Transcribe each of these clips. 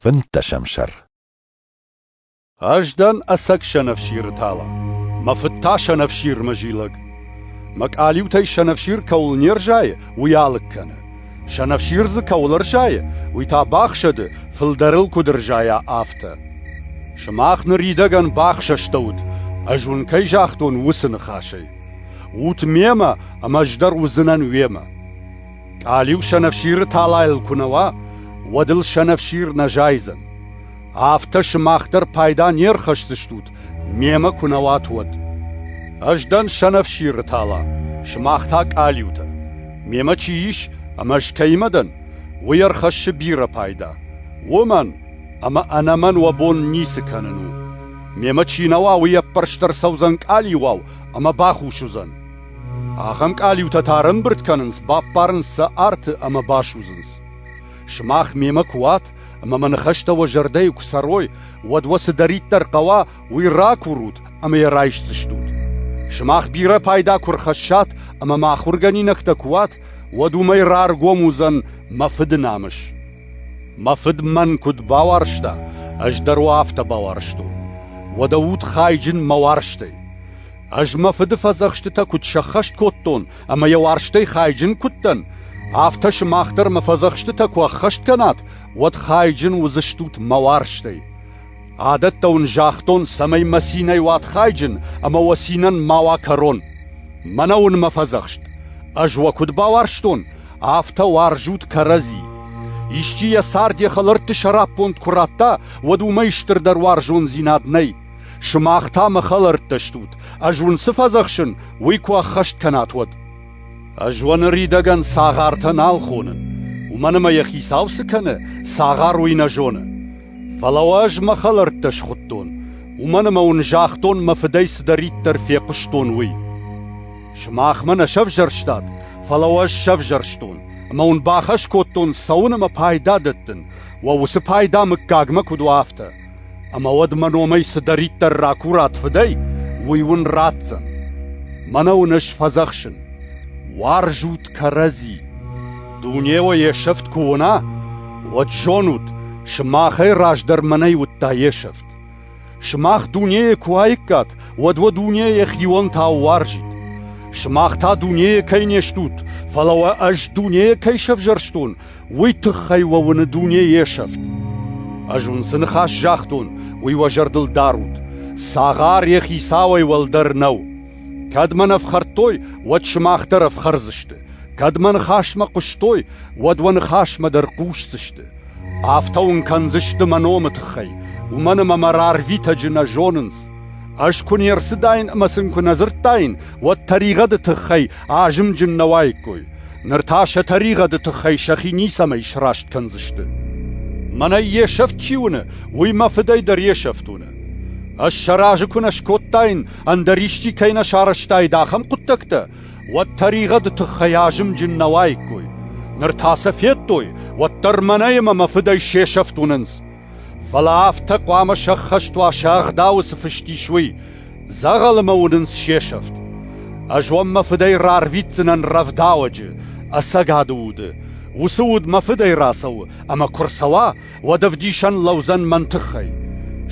Фынддӕсӕм сӕр Ӕз дӕн ӕцӕг сӕнӕфсиры тала, мӕ фыд та сӕнӕфсирмӕ зилӕг. Мӕ къалиутӕй сӕнӕфсир кӕуыл не рзайы, уый алыг кӕны. Сӕнӕфсир дзы кӕуыл ӕрзайы, уый та бахсӕды, фылдӕрыл куыд ӕрзайа, афтӕ. Сымах ныридӕгӕн бахсӕстӕут, ӕз уын кӕй загътон, уыцы ныхасӕй. Ут мемӕ, ӕмӕ ӕз дӕр уыдзынӕн уемӕ. Къалиу сӕнӕфсиры талайыл куы нӕ уа, уӕд ыл сӕнӕфсир нӕ зайдзӕн. Афтӕ сымах дӕр пайда не рхӕсдзыстут, мемӕ куы нӕ уат, уӕд. Ӕз дӕн сӕнӕфсиры тала, сымах та къалиутӕ. Мемӕ чи ис ӕмӕ ӕз кӕимӕ дӕн, уый ӕрхӕссы бирӕ пайда. Уомӕн ӕмӕ ӕнӕмӕн уӕ бон ницы кӕнын у. Мемӕ чи нӕ уа, уый ӕппӕрст ӕрцӕудзӕн къалиуау ӕмӕ бахус уыдзӕн. Ахӕм къалиутӕ та ӕрӕмбырд кӕнынц, баппарынц сӕ арты ӕмӕ басудзынц. Сымах мемӕ куы уат ӕмӕ мӕ ныхӕстӕ уӕ зӕрдӕйы куы цӕрой, уӕд уӕ цыдӕриддӕр хъӕуа, уый ракурут ӕмӕ йӕ райсдзыстут. Сымах бирӕ пайда куы рхӕссат ӕмӕ ма ахуыргӕнинӕгтӕ куы уат, уӕд уымӕй раргом уыдзӕн мӕ фыды намыс. Мӕ фыд мӕн куыд бауарзта, ӕз дӕр уӕ афтӕ бауарзтон. Уӕдӕ ут хайджын мӕ уарзтӕй. Ӕз мӕ фыды фӕдзӕхстытӕ куыд сӕххӕст кодтон ӕмӕ йӕ уарзтӕй хайджын куыд дӕн, афтӕ сымах дӕр мӕ фӕдзӕхстытӕ куы ӕххӕст кӕнат, уӕд хайджын уыдзыстут мӕ уарзтӕй. Адӕттӕ уын загътон, цӕмӕй мӕ цинӕй уат хайджын ӕмӕ уӕ цинӕн ма уа кӕрон. Мӕнӕ уын мӕ фӕдзӕхст. Ӕз уӕ куыд бауарзтон, афтӕ уарзут кӕрӕдзи. Исчи йӕ цард йӕ хӕлӕртты сӕраппонд куы радта, уӕд уымӕй стырдӕр уарзондзинад нӕй. Сымах та мӕ хӕлӕрттӕ стут, ӕз уын цы фӕдзӕхсын, уый куы ӕххӕст кӕнат, уӕд. Ӕз уӕ ныридӕгӕн цагъартӕ нал хонын, уымӕн ӕмӕ йӕ хицау цы кӕны, цагъар уый нӕ зоны. Фӕлӕ уӕ ӕз мӕ хӕлӕрттӕ схуыдтон, уымӕн ӕмӕ уын загътон, мӕ фыдӕй цыдӕриддӕр фехъуыстон, уый. Сымах мӕ нӕ сӕвзӕрстат, фӕлӕ уӕ ӕз сӕвзӕрстон, ӕмӕ уын бахӕс кодтон цӕуын ӕмӕ пайда дӕттын, уӕ уыцы пайда мыггагмӕ куыд уа, афтӕ. Ӕмӕ уӕд мӕ номӕй цыдӕриддӕр ракурат фыдӕй, уый уын ратдзӕн. Мӕнӕ уын ӕз фӕдзӕхсын: уарзут кӕрӕдзи. Дуне уӕ йе сӕфт куы уына, уӕд зонут, сымахӕй раздӕр мӕнӕй уыдта йе сӕфт. Сымах дунейӕ куы уаиккат, уӕд уӕ дуне йӕхионтӕ уарзид. Сымах та дунейӕ кӕй не стут, фӕлӕ уӕ ӕз дунейӕ кӕй сӕвзӕрстон, уый тыххӕй уӕ уыны дуне йе сӕфт. Ӕз уын цы ныхас загътон, уый уӕ зӕрдыл дарут. Цагъар йӕ хицауӕй уӕлдӕр нӕу. Кӕд мӕн ӕфхӕрдтой, уӕд сымах дӕр ӕфхӕрдзысты. Кӕд мӕ ныхасмӕ хъуыстой, уӕд уӕ ныхасмӕ дӕр хъусдзысты. Афтӕ уын кӕндзысты мӕ номы тыххӕй, уымӕн ӕмӕ мӕ рарвитӕджы нӕ зонынц. Ӕз куы не рцыдаин ӕмӕ сын куы нӕ дзырдтаин, уӕд тӕригъӕды тыххӕй азымджын нӕ уаиккой. Ныр та сӕ тӕригъӕды тыххӕй сӕхи ницӕмӕй сраст кӕндзысты. Мӕнӕ йе сӕфт чи уыны, уый мӕ фыдӕй дӕр йе сӕфт уыны. Ӕз сӕ разы куы нӕ скодтаин, ӕндӕр исчи кӕй нӕ сарӕзтаид ахӕм хъуыддӕгтӕ, уӕд тӕригъӕды тыххӕй азымджын нӕ уаиккой. Ныр та сӕ федтой, уӕддӕр мӕнӕ ӕмӕ мӕ фыдӕй се сӕфт уынынц. Фӕлӕ афтӕ хъуамӕ сӕххӕст уа сӕ ӕгъдауы цы фыст ис, уый, дзӕгъӕлымӕ уынынц се сӕфт. Ӕз уӕм мӕ фыдӕй рарвитдзынӕн рӕвдауӕджы, ӕцӕгады уды. Уыцы уд мӕ фыдӕй рацӕуы, ӕмӕ куы рцӕуа, уӕд ӕвдисӕн лӕудзӕн мӕн тыххӕй.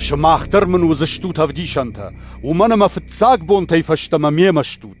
Сымах дӕр мын уыдзыстут ӕвдисӕнтӕ, уымӕн ӕмӕ фыццаг бонтӕй фӕстӕмӕ мемӕ стут.